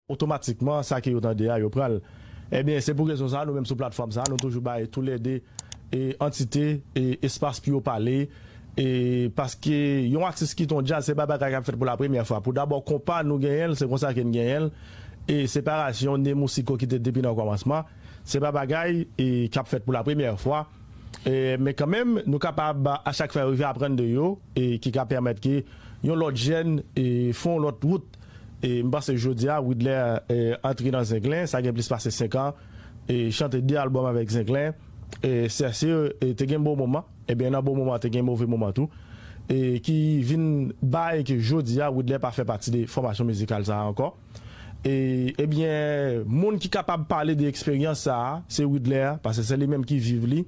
otomatikman sa ke yo tande a yo pran l ebyen se pou rezon sa nou menm sou platfòm sa nou toujou bay tou lè 2 antite espas pou yo pale paske yon atis kite yon djaz se pa bagay kap fèt pou la premyè fwa pou dabò konpa nou genyen l se konsa ke n genyen l e separasyon Nemou Siko ki te depi nan kòmansman se pa bagay kap fèt pou la premyè fwa men kan menm nou kapab a chak fwa rive aprann de yo ki ka pèmèt ke yon lòt jèn fè yon lòt wout. M panse jodia Widler antre nan Zenglen sa gen plis pase 5 an e chante 2 album avèk Zenglen e Cercir te gen bon moman ebyen nan bon moman te gen move moman tou e ki vin bay ke jodia Widler pa fè pati de fòmasyon mizikal sa ankò e ebyen moun ki kapab pale de eksperyans sa se Widler pase se li menm ki viv li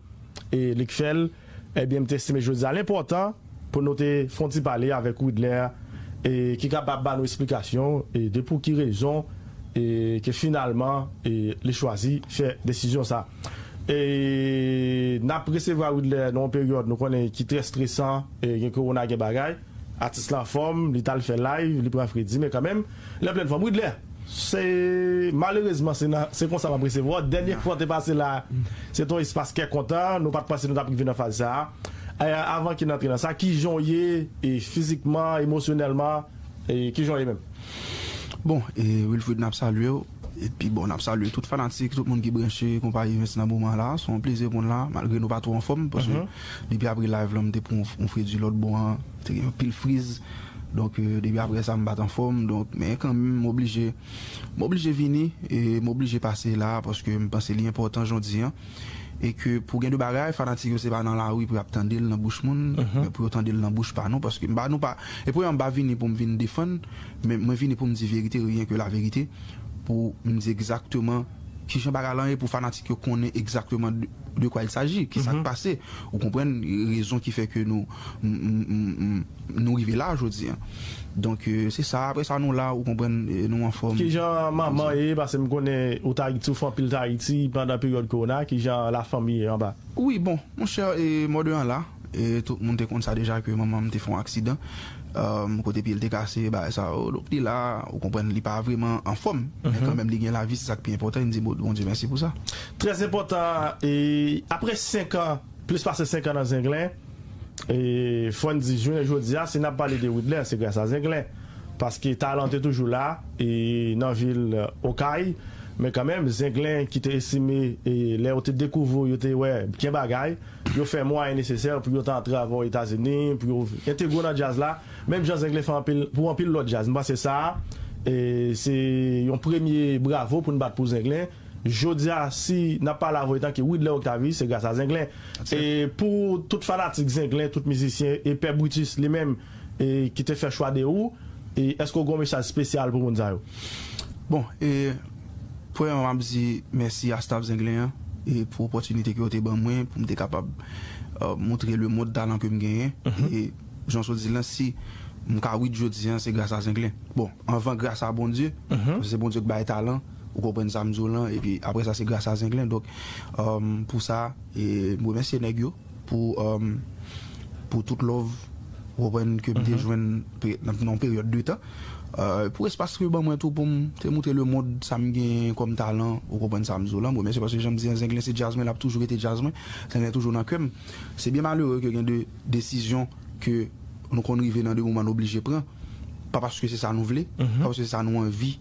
e li k fèl. Ebyen m t estime jodi a l enpòtan pou nou te fè yon ti pale avèk Widner e ki kapab ba nou esplikasyon e de pou ki rezon e ke finalman e li chwazi fè desizyon sa e nap resevwa Widner nan yon peryòd nou konnen ki trè stresan e gen kowona gen bagay atis la anfòm li t al fè live li pran fredi men kanmenm Lè plen fòm Widlè. Se malerezman se nan se konsa map resevwa w dènye fwa w te pase la a se te yon espas kè kontan nou pat panse nou tap rive nan faz sa a e avan ki n antre nan sa kijan w ye e fizikman emosyonèlman e kijan w ye menm? Bon e Wilfrid nap salye w epi bon nap salye tout fanatik tout moun ki branche konpayi evens nan moman la se yon plezi pou n la malgre nou pa twò anfòm paske depi apre live lan m te pran yon fredi lòt bò an Te gen yon pil friz, donk depi aprè sa m pa t anfòm, donk men kanmenm m oblije m oblije vini e m oblije pase la a paske m panse li enpòtan jodi an e ke pou gen de bagay fanatik yo se pa nan lari pou y ap tande l nan bouch moun men pou yo tande l nan bouch pa nou paske m pa nou pa e premyèman m pa vini pou m vin defann men mwen vini pou m di verite ryen ke laverite pou m di egzakteman ki jan bagay lan ye pou fanatik yo konnen egzakteman de kwa il saji ki sa k pase ou konprann rezon ki fè ke nou. Nou rive la jodi an. Donk se sa apre sa nou la ou konprann nou anfòm. Kijan manman ye pase m konnen ou t ayiti ou fè anpil tan ayiti pandan peryòd kowona kijan la fanmi ye anba. Wi bon monchè mòde an la tout moun te konn sa deja ke manman m te fè yon aksidan kote pye l te kase bagay sa yo donk li la ou konprann li pa vreman anfòm men kanmenm li gen lavi se sa k pi enpòtan e n di Bondye mèsi pou sa. Trèzenpòtan apre senkan plis pase senkan nan Zenglen. Fò n di jounen jodi a si n ap pale de Widler se gras a Zenglen paske talan te toujou la nan vil Okay men kanmenm Zenglen ki te estime lè yo te dekouvri yo te wè gen bagay yo fè mwayen nesesè pou yo ta antrave o Etazini pou yo entegre w nan djaz la menm jan Zenglen fè pou anpil lòt djaz. M panse sa se yon premye bravo pou n bat pou Zenglen. Jodia si nap pale avw etanke Widler Octavie se gras a Zenglen e pou tout fanatik Zenglen tout mizisyen e pè Brutus li menm e ki te fè chwa de ou e eske ou gen yon mesaj spesyal pou moun sa yo? Bon e premyèman map di mèsi a staff Zenglen an e pou opòtinite ke yo te ban mwen poum te kapab moutre le mond talan kem genyen e jan sot dil lan si mka wid jodia se gras a Zenglen bon anvan gras a Bondye paske se Bondye k bay talan. Ou konprann sa m di w lan epi aprè sa se gras a Zenglen donk pou sa m remèsye nèg yo pou tout lòv ou konprann ke m te jwenn nan yon peryòd de tan pou espas yo ban mwen tou pou m te moutre lemond sa m genyen kòm talan ou konprann sa m di w lan m remèsye paske jan m di an Zenglen se djaz mwen l ap toujou rete djaz mwen Zenglen toujou nan kè m se byen malere ke gen de desizyon ke nou konn rive nan de moman nou oblije pran, pa paske se sa nou vle, pa paske se sa nou anvi,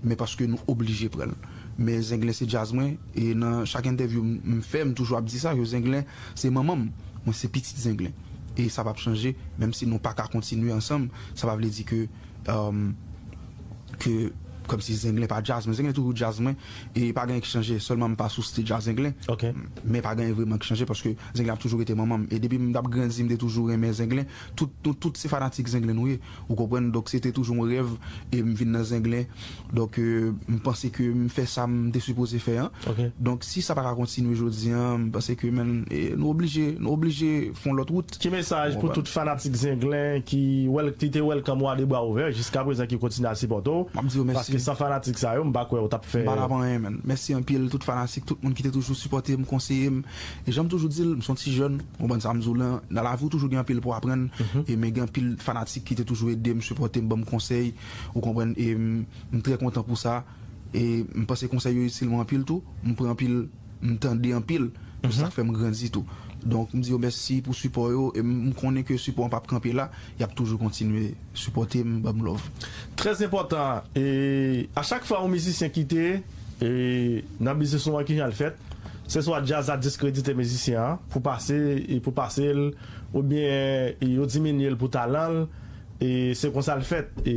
men paske nou oblije pran l. Men Zenglen se djaz mwen, e nan chak entèvyou m fè, m toujou ap di sa, ke Zenglen se manman m, mwen se pitit Zenglen. E sa p ap chanje, menm si nou pa ka kontinye ansanm, sa pa vle di ke. Ke kòmsi zenglen pa djaz mwen, zenglen toujou djaz mwen e pa genyen ki chanje sèlman m pa sou stage a zenglen men pa genyen vreman ki chanje paske zenglen ap toujou rete manman m e depi m tap grandi m te toujou renmen zenglen tout nou tout se fanatik zenglen nou ye ou konprann donk se te toujou yon rèv e m vin nan zenglen. Donk m panse ke m fè sa m te sipoze fè an. Donk si sa pa ka kontinye jodi an, m panse ke men nou oblije, nou oblije fè yon lòt wout. Ki mesaj pou tout fanatik Zenglen ki te welcome ou a 2 bra ouvè, jiskaprezan ki kontinye ap sipòte w? Map di yo mèsi. Paske san fanatik sa yo, m pa kwè ou tap fè. M pa tap anyen menn. Mèsi anpil tout fanatik, tout moun ki te toujou sipòte m, konseye m. E jan m toujou di l, m se yon ti jèn, ou konprann sa m di w lan. Nan lavi ou toujou gen anpil pou aprann. E men gen anpil fanatik ki te toujou ede m, sipòte m, ban m konsèy. Ou konprann e m trè kontan pou sa e m panse konsèy yo itil mwen anpil tou, m pran anpil m tande anpil e sa fè m grandi tou. Donk m di yo mèsi pou sipò yo e m konnen ke sipò an pap kanpe la, y ap toujou kontinye sipòte m, ban m love. Trè enpòtan e a chak fwa yon mizisyen kite e nan biznis nou an kijan l fèt, se swa djaz la diskredite mizisyen an pou pase e pou pase l oubyen yo diminye l pou talan l E se konsa l fèt. E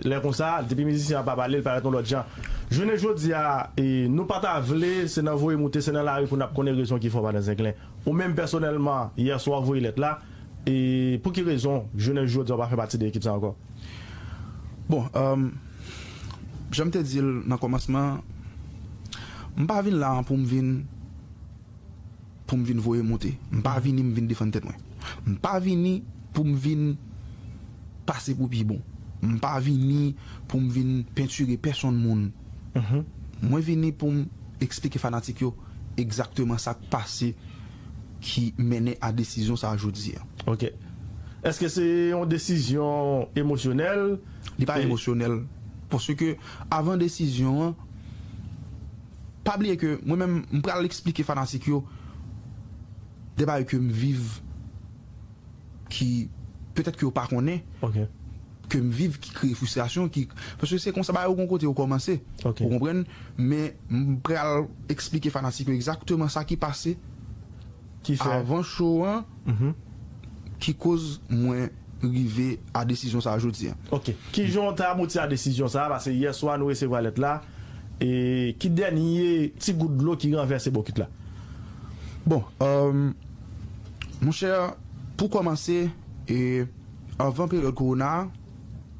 lè konsa, depi mizisyen an pa pale, l parèt yon lòt jan. Jounen jodi a, nou pa ta vle, se nan voye moute, se nan lari pou n ap konnen rezon ki fè w pa nan zenglen. Ou menm pèsonèlman, yè swa w voye lèt la, e pou ki rezon jounen jodi a w pa fè pati de ekip sa ankò? Bon, jan m te di l nan kòmansman an, m pa vin la an pou m vin. Pou m vin voye monte. M pa vini m vin defann tèt mwen. M pa vini pou m vin pase pou pi bon. M pa vini pou m vin pentire pèsonn moun. Mwen vini pou m eksplike fanatik yo egzakteman sa k pase ki mennen a desizyon sa a jodi a. Ok. Eske se yon desizyon emosyonèl? Li pa emosyonèl. Paske avan desizyon an, Pa bliye ke mwen menm m pral esplike fanatik yo de bagay ke m viv ki petèt ke yo pa konnen ke m viv ki kreye fristrasyon ki paske se konsa bagay yo gon kote yo kòmanse ou konprann men m pral esplike fanatik yo egzakteman sa ki pase avan cho an ki koz mwen rive a desizyon sa a jodi a. Ok. Kijan w te abouti a desizyon sa a paske yè swa nou resevwa lèt la. E ki dènye ti gout dlo ki ranvèse bokit la? Bon, monchè, pou kòmanse, anvan peryòd kowona a,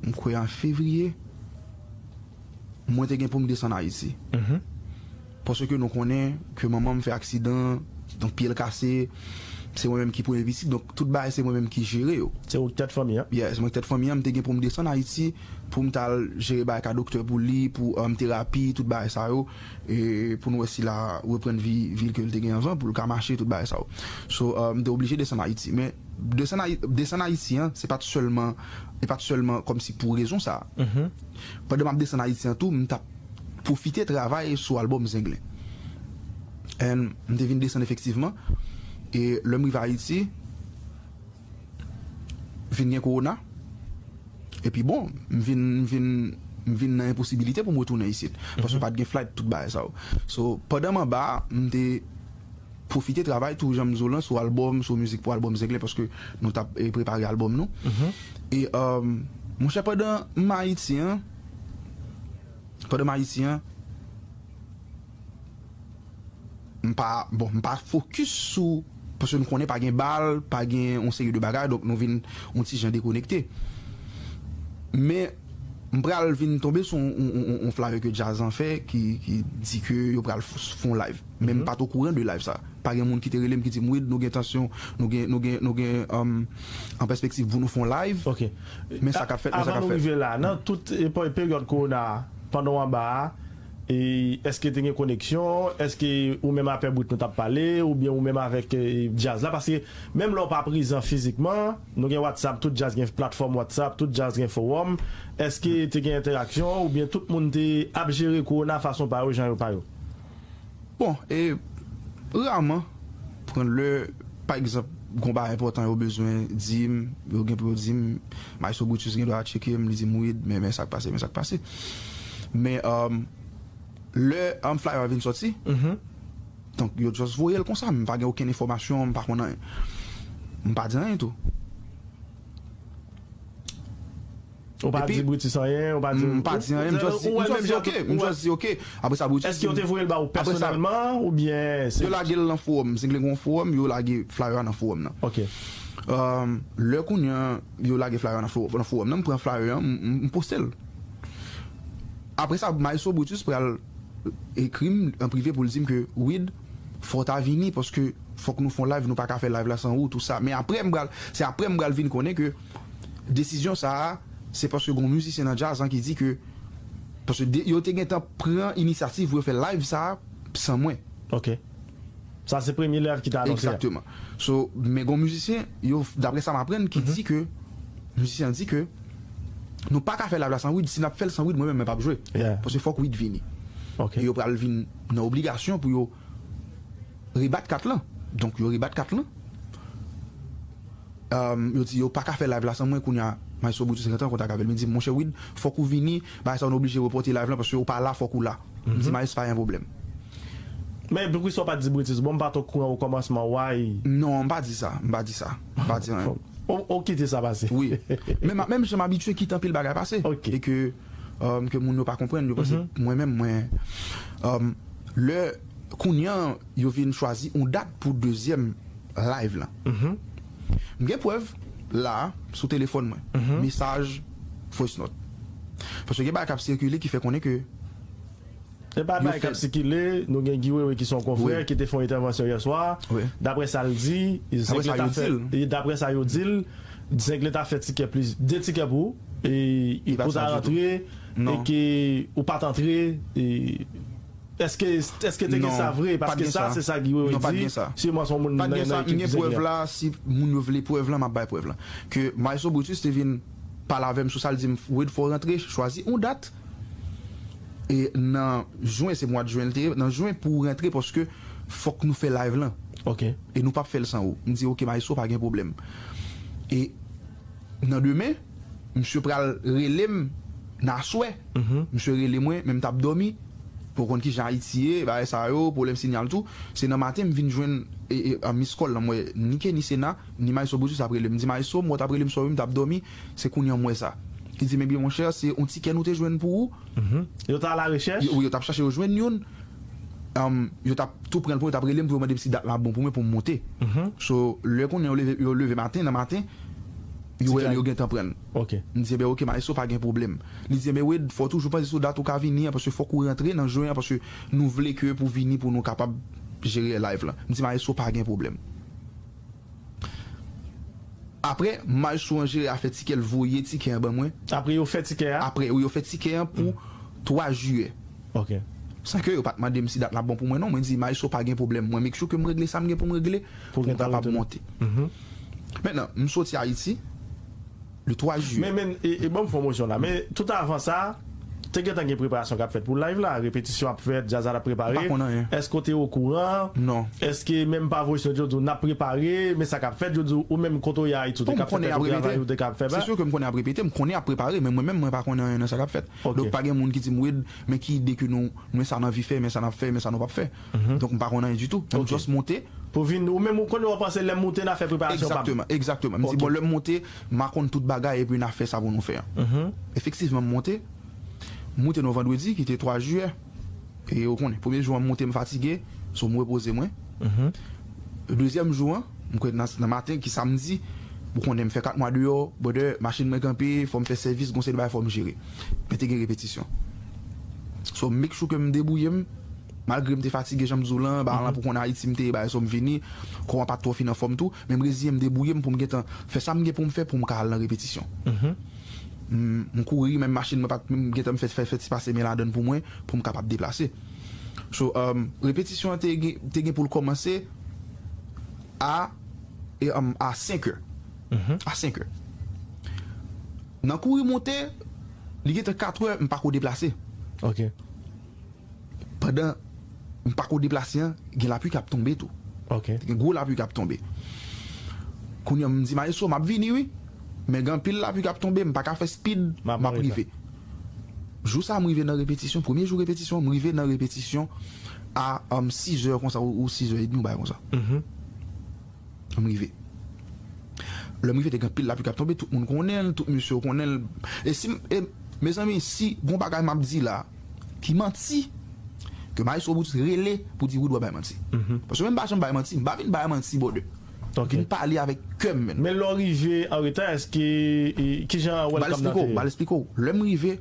m kwè an fevriye, mwen te gen pou m desann Ayiti. Paske nou konnen ke manman m fè aksidan, donk pye l kase, se mwen menm ki premye pitit, donk tout bagay se mwen menm ki jere yo. Se ou ki tèt fanmi an? Yes, mwen ki tèt fanmi an, m te gen pou m desann Ayiti. poum tal jere bagay ka doktè pou li pou terapi tout bagay sa yo poun wè si la reprann vi vil kel te gen anvan poul ka mache tout bagay sa yo so mte oblije desann ayiti men desann ayiti an se pat sèlman e pat sèlman kòmsi pou rezon sa pandan map desann ayiti an tou mtap pwofite travay sou albòm zenglen and mte vin desann efektivman e lèm rive ayiti. vin gen kowona, epi bon, m vin, m vin, m vin nan enposibilite pou m retounen isit, paske pa t gen flight, tout bagay sa yo. So, pandan m anba a, m te pwofite travay tou jan m di w lan sou albòm, sou mizik pou albòm Zenglen, paske nou t ap prepare albòm nou. E, monchè, pandan m Ayiti an, pandan m Ayiti an, M pa, bon, m pa fokis sou, paske nou konnen pa gen bal, pa gen yon seri de bagay, donk nou vin yon ti jan dekonekte. Men, m pral vin tonbe sou yon flyer ke Djaz lan fè ki di ke yo pral fè yon live. Men m pa t okouran de live sa. Pa gen moun ki te rele m ki di m, Wid, nou gen entansyon, nou gen, nou gen, nou gen an pèspektiv pou nou fè yon live. Ok. Men sa k ap fèt, men sa k ap fèt. Avan nou rive la, nan tout peryòd kowona a, pandan w anba a, Eske te gen koneksyon? Eske ou menm a Pè Brut nou t ap pale? Oubyen ou menm avèk djaz la? Paske menm lè ou pa prezan fizikman, nou gen Whatsapp, tout djaz gen platfòm Whatsapp, tout djaz gen fowòm. Eske te gen entèraksyon? Oubyen tout moun te ap jere kowona fason pa yo, jan yo pa yo? Bon, e raman, pran lè, pa egzanp, gon bagay enpòtan yo bezwen di m, yo gen pou yo di m, Maestro Brutus gen dwa tcheke m, li di m, Wid, men, men sa k pase, men sa k pase. Men, lè flyer a vin sòti, donk, yo just voye l konsa, m pa gen okenn enfòmasyon, m pa konn anyen. M pa di anyen tou. Ou pa di Brutus anyen, ou pa di. M pa di anyen, m just di, m just di ok, m just di ok. Apre sa Brutus di m. Èske yo te voye l ba ou pèsonèlman oubyen se. Yo lage l nan fowòm, Zenglen gen yon fowòm, yo lage flyer a nan fowòm nan. Ok. Lè kounye an yo lage flyer a nan fowòm nan, m pran flyer an, m poste l. Apre sa Maestro Brutus pral ekri m an prive pou l di m ke Wid, fò w ta vini paske fòk nou fè yon live, nou pa ka fè live la san ou, tou sa. Men apre m pral, se apre m pral vin konnen ke. Desizyon sa a, se paske gon mizisyen nan djaz lan ki di ke paske de yo te gentan pran inisyativ pou yo fè live sa a san mwen. Ok. Sa se premye live ki te anonse a. Egzakteman. So, men gon mizisyen, yo, daprè sa m aprann, ki di ke, mizisyen an di ke nou pa ka fè live la san Wid, si n ap fè l san Wid mwen menm mwen p ap jwe. Yeah. Paske fòk Wid vini. Ok. E yo pral vin nan obligasyon pou yo rebat kat lan. Donk yo rebat kat lan. Yo di yo paka fè live la san mwen kounya maestro Brutus gentan an kontak avèl li di m monchè Wid fòk ou vini bagay sa nou oblije repòte live lan paske ou pa la fòk ou la m di maes pa gen pwoblèm. Men poukisa ou pat di Brutus bon m pat okouran o kòmansman why. Non m pa di sa m pa di sa m pa di anyen. Ou kite sa pase. Wi men m menm jan m abitye kite anpil bagay pase e ke ke moun yo pa konprann yo panse mwen menm mwen lè kounya Yo vin chwazi yon dat pou dezyèm live lan. M gen prèv la a sou telefòn mwen, mesaj voice note. Paske gen bagay k ap sikile ki fè konnen ke yo fèb. Gen bagay k ap sikile, nou gen Guy Wewe ki se yon konfrè ki te fè yon entèvansyon yè swa, daprè sa l di, daprè sa yo di l, Zenglen ta fè tikè plis, 2 tikè pou e pou ta rantre e ke ou pa t antre. Eske eske te gen sa vre paske sa se sa Guy wewe di siman son moun nan ekip ki se gen an. Si moun yo vle prèv lan map bay prèv lan ke maestro Brutus te vin pale avèm sou sa li dim Wid fòw rantre chwazi yon dat nan juin se mwad juin li te ye nan juin pouw rantre paske fòk nou fè live lan e nou pap fèl san ou m di ok maestro pa gen pwoblèm e nan demen Misye pral relem nan aswè misye rele mwen men mtap domi ou konn kijan ayiti ye bagay sa yo pwoblèm sinyal tou se nan maten mvin jwenn miss call lan mwen ni Kenny Sena ni Maestro Brutus ap relem mdi Maestro m wè w tap relem sou wi mtap domi se kounya m wè sa li dim ebyen monchè se yon tikè nou te jwenn pou ou Yo t alarechèch? Wi yo tap chache yo jwenn youn yo tap tou pranl pou yo tap relem pou yo mandem si dat la bon pou mwen poum monte so lè kounya yo leve yo leve maten nan maten. Yo wè yo gentan prann. M di enben ok maestro pa gen pwoblèm. Li di enben Wade fò w toujou panse sou dat ou ka vini an paske fòk ou rantre nan jwe an paske nou vle ke pou vini pou nou kapab jere live lan. M di maestro pa gen pwoblèm. Aprè maestro an jere afè tikè l voye tikè an ban mwen. Apre yo fè tikè a? Aprè wi yo fè tikè an pou 3 jiyè. Ok. San ke yo pat mande m si dat la bon pou mwen non. Mwen di maestro pa gen pwoblèm mwen make sure ke m regle sa m gen pou m regle pou m kapab monte. Maintenant, m soti Ayiti, le 3 jiyè. Men, men, e ban m pwomosyon la. Men, tout avan sa, te gentan gen preparasyon k ap fèt pou live la? Repetisyon ap fèt, djaz la t ap prepare? M pa konn anyen. Èske w te okouran? Non. Èske menm pa voye sou nèt yo di w n ap prepare, men sa k ap fèt? Yo di w, ou menm kote w ye Ayiti, w te ka fè tèt ou travay ou te ka fè ba? Se sou ke m konnen y ap repete, m konnen y ap prepare, men mwen menm mwen pa konnen anyen nan sa k ap fèt. Donk pa gen moun ki di m, Wid, men ki ide ke nou, men sa n anvi fè, men sa n ap fè, men sa nou p ap fè. donk m pa konn anyen ditou m just moute. Pou vin ou menm ou konnen wap panse lèm moute na fè preparasyon pam. Egzakteman egzakteman m di bon lèm moute ma konn tout bagay epi na fè sa pou nou fè an efektivman m moute m moute nou vandredi ki te 3 jiyè e ou konnen premye jou an m moute m fatige so m repoze mwen dezyèm jou an m kwè nan maten ki samdi ou konnen m fè 4 mwa deyò brother machin mwen kanpe fòm fè sèvis gon seri de bagay fòm jere men te gen repetisyon so m make sure ke m debouye m. Malgre m te fatige jan m di w lan, ba lan pou konn Ayiti m te ye bay so m vini, kò a pa t twò fin anfòm tou, men m reziyen m debwouye m pou m gentan fè sa m gen pou m fè pou m ka al nan repetisyon. M kouri, menm machin mwen pa t m gentan m fè fè ti pase men ladan l pou mwen pou m kapab deplase. So, repetisyon an te gen te gen pou l kòmanse a a senkè, a senkè. Nan kouri monte, li gentan katrè m pa ko deplase. pandan m pako deplase an gen lapli kap tonbe tou te gen gwo lapli kap tonbe kounye an m di maestro map vini wi men gen anpil lapli kap tonbe m paka fè speed map rive jou sa m rive nan repetisyon premye jou repetisyon an m rive nan repetisyon a 6 è konsa ou 6 è edmi yon bagay konsa m rive lè m rive te gen anpil lapli kap tonbe tout moun konnen l tout mesye yo konnen l e si e mezanmi si gon bagay map di la. Ki manti ke Maestro Brutus rele pou di Wood wap bay manti? Paske mwen pa janm bay manti, mpa vin bay manti brother. M vin pale avèk kèm menn. Men lè w rive an reta eske kijan welcome nan te ye? Bal esplike w, lè m rive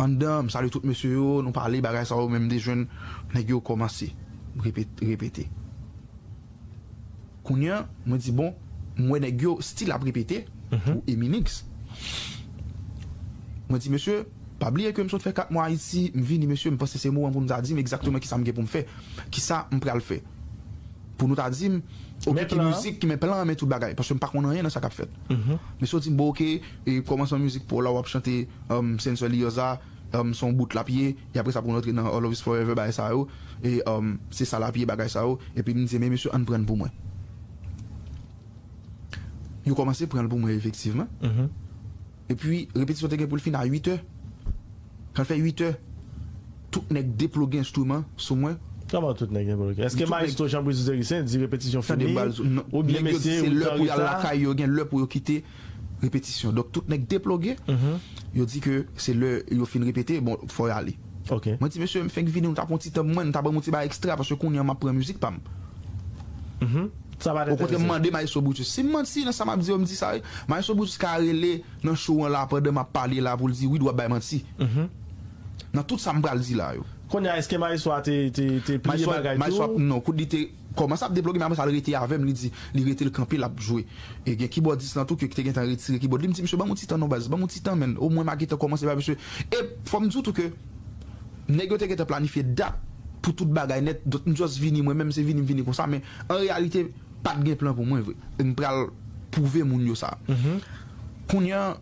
anndan m salye tout mesye yo, nou pale bagay sa yo men m te jwenn nèg yo kòmanse repete. Kounya mwen di bon m wè nèg yo stil ap repete pou Eminix mwen di mesye pa bliye ke m sot fè 4 mwa Ayiti m vini mesye m panse se moman pou nou ta di m egzakteman kisa m gen pou m fè kisa m pral fè pou nou ta di m ok ki mizik ki men plan an men tout bagay paske m pa konn anyen nan sa kap fèt mesye yo di m bon ok kòmansman mizik pou w la wap chante Sensor Lioza. Humm son bout lap ye e apresa poun rantre nan love is forever bagay sa yo e humm se sa lap ye bagay sa yo epi bndye men mesye ann prann pou mwen yo komanse pranl pou mwen efektivman epi repetisyon te gen poul fin a 8 è kanl fè 8 è tout nèg deploge enstriman sou mwen. Kman tout nèg deploge eske maestro Jean Brice Duzericien di repetisyon fini oubyen mesye ou tan reta. Repetisyon. Donk tout nèg deploge, yo di ke se lè yo fin repete, bon, fò y ale. Mwen di, Mesye, m fenk vini, nou ta pran yon ti tan pou mwen, nou ta ban m yon ti bagay ekstra, paske kounye an m ap pran mizik pa m. Okontrè, m mande Maestro Brutus, si m manti nan sa m ap di yo, m di sa wi. Maestro Brutus ka rele nan show an la, pandan m ap pale la, pou l di, Wid, w ap bay manti, nan tout sa m pral di la yo. Kounye a, èske Maestro a te pliye bagay tou? Non, kout li te. Kòmanse ap debloge men apre sa l rete avè m li di li rete l kanpe l ap jwe e gen kibòdis lan tou ke ki te gentan retire kibòd li m di misye ban m yon ti tan non baz ban m yon ti tan menn omwen ma gentan kòmanse bay misye e fò m di w tou ke nèg yo te gentan planifye dat pou tout bagay nèt donk m just vini mwen menm se vini m vini konsa men an reyalite pa t gen plan pou mwen vre e m pral pwouve moun yo sa kounye an.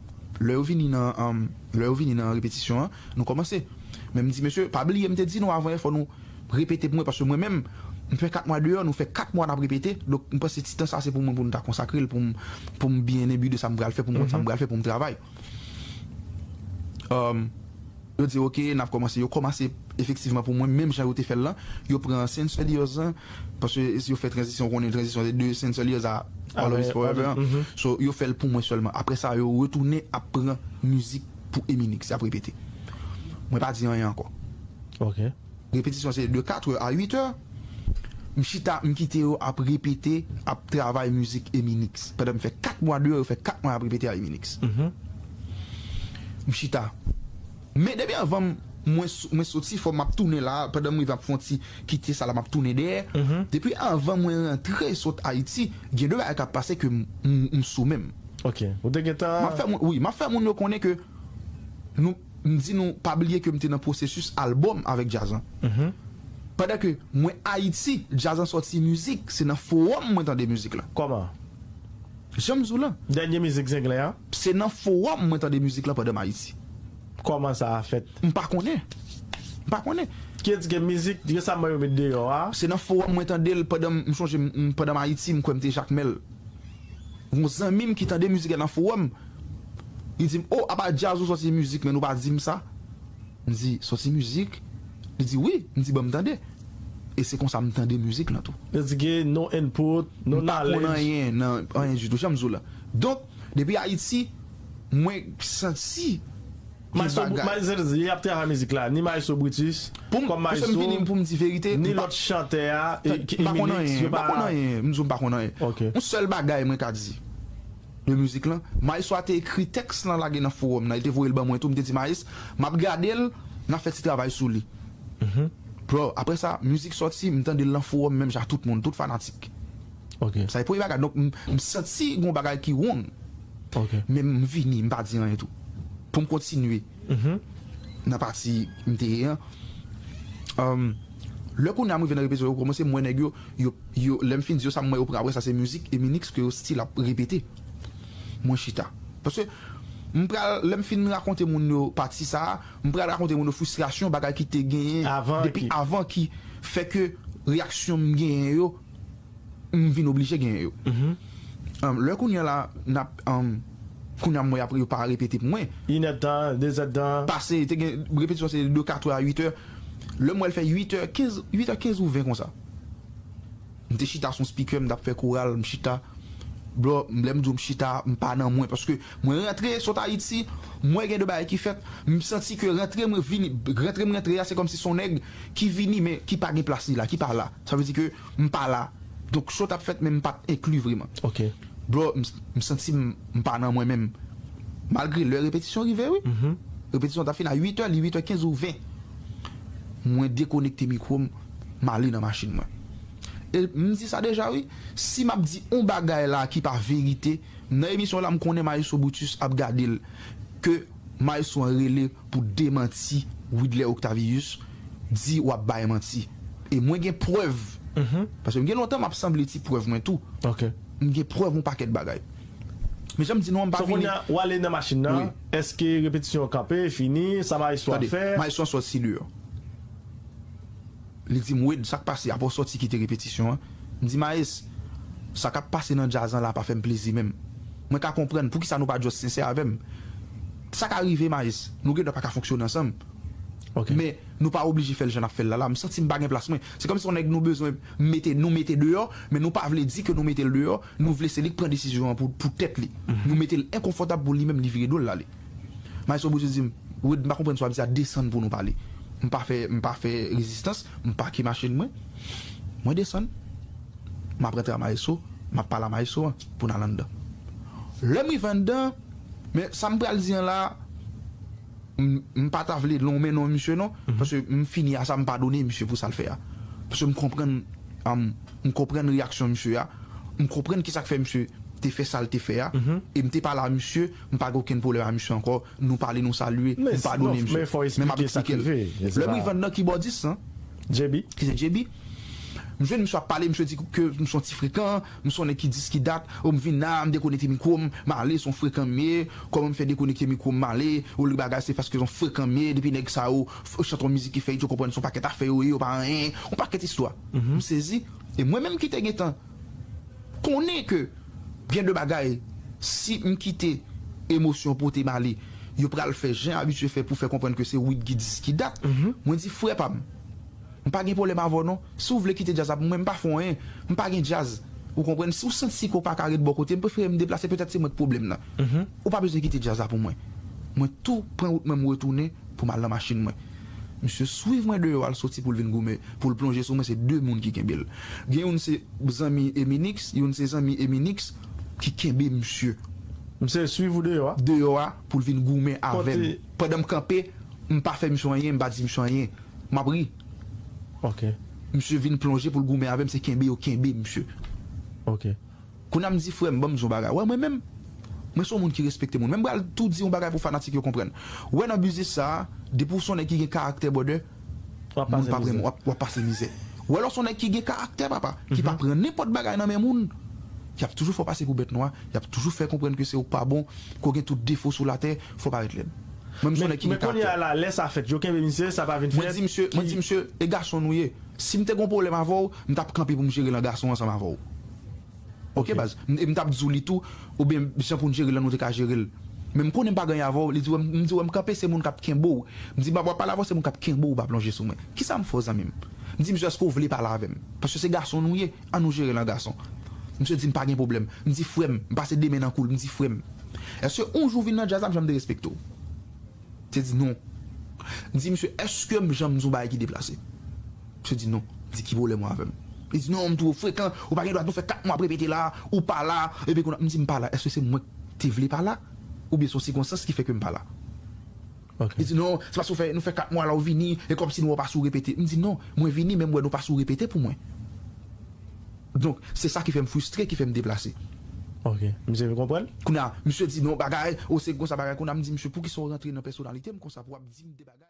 Lè yo vini nan Lè yo vini nan repetisyon an, nou kòmanse. Men m di, Mesye, pa bliye m te di nou avan yè fò nou repete pou mwen paske mwen menm, m fè kat mwa deyò, nou fè kat mwa n ap repete. Donk, m panse ti tan sa se pou mwen pou nou ta konsakre l pou m pou m byen enbi de sa m pral fè, pou m konn sa m pral fè pou m travay. Yo di ok nap komanse yo komase efektivman pou mwen menm jan yo te fèl lan yo pran Saints Warriors an paske yo fè tranzisyon ou konnen tranzisyon se de Saints Warriors a All Of Us Forever an so yo fèl pou mwen sèlman aprè sa yo retounen ap pran mizik pou Eminix yap repete mwen pa di anyen ankò. Repetisyon se de 4 è a 8 è. M chita, m kite yo ap repete, ap travay mizik Eminix. Pandan m fè 4 mwa deyò, yo fè 4 mwa y ap repete a Eminix. M chita. Men depi anvan mwen soti fò m ap tounen la a, pandan m rive m ap fè yon ti kite sa la m ap tounen dèyè. Depi anvan mwen rantre sot Ayiti, gen de bagay k ap pase ke m sou men m. Ok. Ou te gentan. M ap fè moun, wi, m ap fè moun yo konnen ke nou. M di nou pa bliye ke m te nan pwosesis albòm avèk djaz lan. Pandan ke mwen Ayiti, djaz lan sòti mizik, se nan fowòm mwen tande mizik lan. Kòman? Jan m di w lan. Dènye mizik Zenglen an? Se nan fowòm mwen tande mizik lan pandan m Ayiti. Kòman sa a fèt? M pa konnen. M pa konnen. Kidske mizik resamman yo met deyò a. Se nan fowòm mwen tande l pandan m, m chonje m, pandan m Ayiti, m kwè m te Jakmèl. Gon zanmi m ki tande mizik lan nan fowòm. Li di m, O, apa djaz ou sòti mizik men nou pa di m sa. M di, Sòti mizik? Li di, Wi. M di, Ban m tande. E se konsa m tande mizik lan tou. Yo di gen no input, no knowledge. M pa konn anyen nan anyen ditou, jan m di w la. Donk, depi Ayiti, mwen santi. Maestro Brutus, se a di, y ap travay mizik la, ni Maestro Brutus, kòm maestro, ni lòt chantè a, Eminix, yo pa. M pa konn anyen, m di w m pa konn anyen. Yon sèl bagay mwen ka di. de mizik lan. Maestro a te ekri tèks lan lage nan fowòm nan, li te voye l ban mwen tou, m te di Maes, m ap gade l, n ap fè ti travay sou li. Bro, aprè sa, mizik sòti, m tande l nan fowòm menm jan ak tout moun, tout fanatik. Sa se premye bagay, donk m santi gen yon bagay ki wrong. Men m vini, m pa di anyen tou. Pou m kontinye. nan pati m te ye an lè kounye a m rive nan repetityon yo kòmanse m wè nèg yo yo lè m fin di yo sa m wè yo pran aprè sa se mizik eminix ke yo stil ap repete mwen chita paske m pral lè m fin rakonte moun yo pati sa m pral rakonte moun yo fristrasyon bagay ki te genyen depi avan ki fè ke reyaksyon m genyen yo. M vin oblije genyen yo. Lè kounye la n ap. Kounye a m wè y ap yo pa repete pou mwen. Inèdtan, dezèdtan. Pase, te gen repetisyon se de katrè a uitè. Lè m wè l fè uitè kenz, uitè kenz ou ven konsa. M te chita sou yon spikè, m t ap fè koral, m chita. Bro, lè m di w m chita a, m pa nan mwen paske mwen rantre sot Ayiti, m wè gen de bagay ki fèt, m santi ke rantre mwen vini, rantre m rantre a se kòmsi se yon nèg ki vini men ki pa gen plas li la, ki pa la. Sa vle di ke. m pa la donk show tap fèt men m pat enkli vreman bro m santim m pa nan mwen menm malgre lè repetisyon rive wi repetisyon ta fin a 8 è li 8 è 15 ou 20 mwen dekonekte mikwo m m ale nan machin mwen e m di sa deja wi si map di on bagay la ki pa verite m nan emisyon la m konnen maestro Brutus ap gade l ke Maestro an rele pou demanti Widler Octavius di wap bay manti e mwen gen prèv paske m gen lontan map sanble ti prèv mwen tou m gen prèv yon pakèt bagay men janm di nou an m pa vini. So kounya ou ale nan machin nan eske repetisyon an kanpe fini sa maestro a fè. Tande maestro an sòti deyò. Li di m, Wade, sa k pase? Apre w sòti kite repetisyon an? M di, Maes, sa k ap pase nan djaz lan la a pa fè m plezi menm. Mwen ka konprann. Poukisa nou pa just sensè avè m? Sa ka rive, Maes. Nou gendwa pa ka fonksyone ansanm. Men, nou pa oblije fè l jan n ap fè l la la. M santi m pa gen plas mwen. Se kòmsi on nèg nou bezwen mete, nou mete deyò, men nou pa vle di ke nou mete l deyò, nou vle se li k pran desizyon an pou tèt li. Nou mete l enkonfòtab pou li menm li vire do l l ale. Maestro Bouzi di m, Wid m pa konprann sa w ap di a, desann pou nou pale. M pa fè m pa fè rezistans, m pake machin mwen, mwen desann, m ap rantre a Maestro, m ap pale a Maestro an pou n al anndan. Lè m rive anndan, men sa m pral di an la, m pa ta vle lonmen non misye non, paske m fini a sa, m padone misye pou sa l fè a. Paske m konprann m konprann reyaksyon misye a, m konprann kisa k fè misye te fè sa l te fè a e m te pale a misye. M pa gen okenn pwoblèm a misye ankò, nou pale nou salye, m padone misye. Men m ap eksplike l. Lè m rive nan kibòdis lan, ki se JB, m jwenn misye ap pale, misye di ke m son ti frekan, m son nèg ki dis ki dat, o m vin la, m dekonekte mikwo m, m ale, son frekan m ye, kòman m fè dekonekte mikwo m, m ale, o li bagay se paske son frekan m ye, depi nèg sa yo chante yon mizik ki fè it yo konprann son pakèt afè yo ye, yo pa anyen, yon pakèt istwa. M sezi, e mwen menm ki te gentan. konnen ke gen de bagay si m kite emosyon pote m ale yo pral fè jan abitye fè pou fè konprann ke se Wid ki di s ki dat mwen di frè pa m m pa gen pwoblèm avè w non si w vle kite djaz la pou mwen m pa fè w anyen m pa gen djaz ou konprann si w santi si ke w pa ka ret bò kote m prefere m deplase petèt se mwen k pwoblèm nan ou pa bezwen kite djaz la pou mwen mwen tou pran wout mwen m retounen pou m al nan machin mwen. Misye swiv mwen deyò al soti poul vin goumen poul plonje sou mwen se 2 moun ki kenbel gen youn se zanmi Eminix youn se zanmi Eminix ki kenbe misye. Misye swiv ou deyò a? Deyò a poul vin goumen avèm pandan m kanpe m pa fè misye anyen m pa di misye anyen map ri ok misye vin plonje poul goumen avèm se kenbe yo kenbe misye ok. Kounya m di frèm banm di yon bagay wè mwen menm mwen son moun ki respekte moun men m pral tou di yon bagay pou fanatik yo konprann wè nan biznis sa depi w son nèg ki gen karaktè brother moun pap renmen w wap pase mizè wè lè w son nèg ki gen karaktè papa ki pa pran nenpòt bagay nan men moun yap toujou fè w pase pou bèt nwa yap toujou fè konprann ke se w k pa bon ke w gen tout defo sou latè fò w parèt lèd mwen m son nèg ki gen karaktè. Men kounya la lè sa fèt yo kenbe misye sa pa vin fèt ki. Mwen di misye e gason nou ye si m te gen yon pwoblèm avè w m tap kanpe pou m jere l an gason ansanm avè w Ok baz, e m tap di w li tou, oubyen jan pou n jere l lan nou te ka jere l. Men m konnen m pa gen avè w, li di wè m di wè m kanpe se moun kap kenbe w, m di wap pale avè w se moun kap kenbe w pa plonje sou mwen. Kisa m fè w zanmi m? M di misye èske w vle pale avè m? Paske se gason nou ye, an nou jere l an gason. Misye di m pa gen pwoblèm, m di frè m, m pase de men nan kou l, m di frè m, èske on jou vin nan djaz la m janm derespekte w? Misye di non. M di misye eske m janm di yon bagay ki deplase? Misye di non. M di ki pwoblèm ou avè m? Li di non m two frekan, ou pa gen dwa nou fè 4 mwa ap repete la, ou pa la, epi konn ap m di m pa la eske se mwen k te vle pa la? Oubyen se yon sikonstans ki fè ke m pa la? Li di non, se paske ou fè nou fè 4 mwa la ou vini, e kòmsi nou wè ou pa sou repete. M di non, mwen vini men m wè nou pa sou repete pou mwen. Donk, se sa ki fè m fristre, ki fè m deplase. Ok. Misye vin konprann? Kounye a, misye di non bagay, o se konsa bagay. Kounye a, m di misye, poukisa ou rantre nan pèsonalite m konsa pou w ap di m de bagay?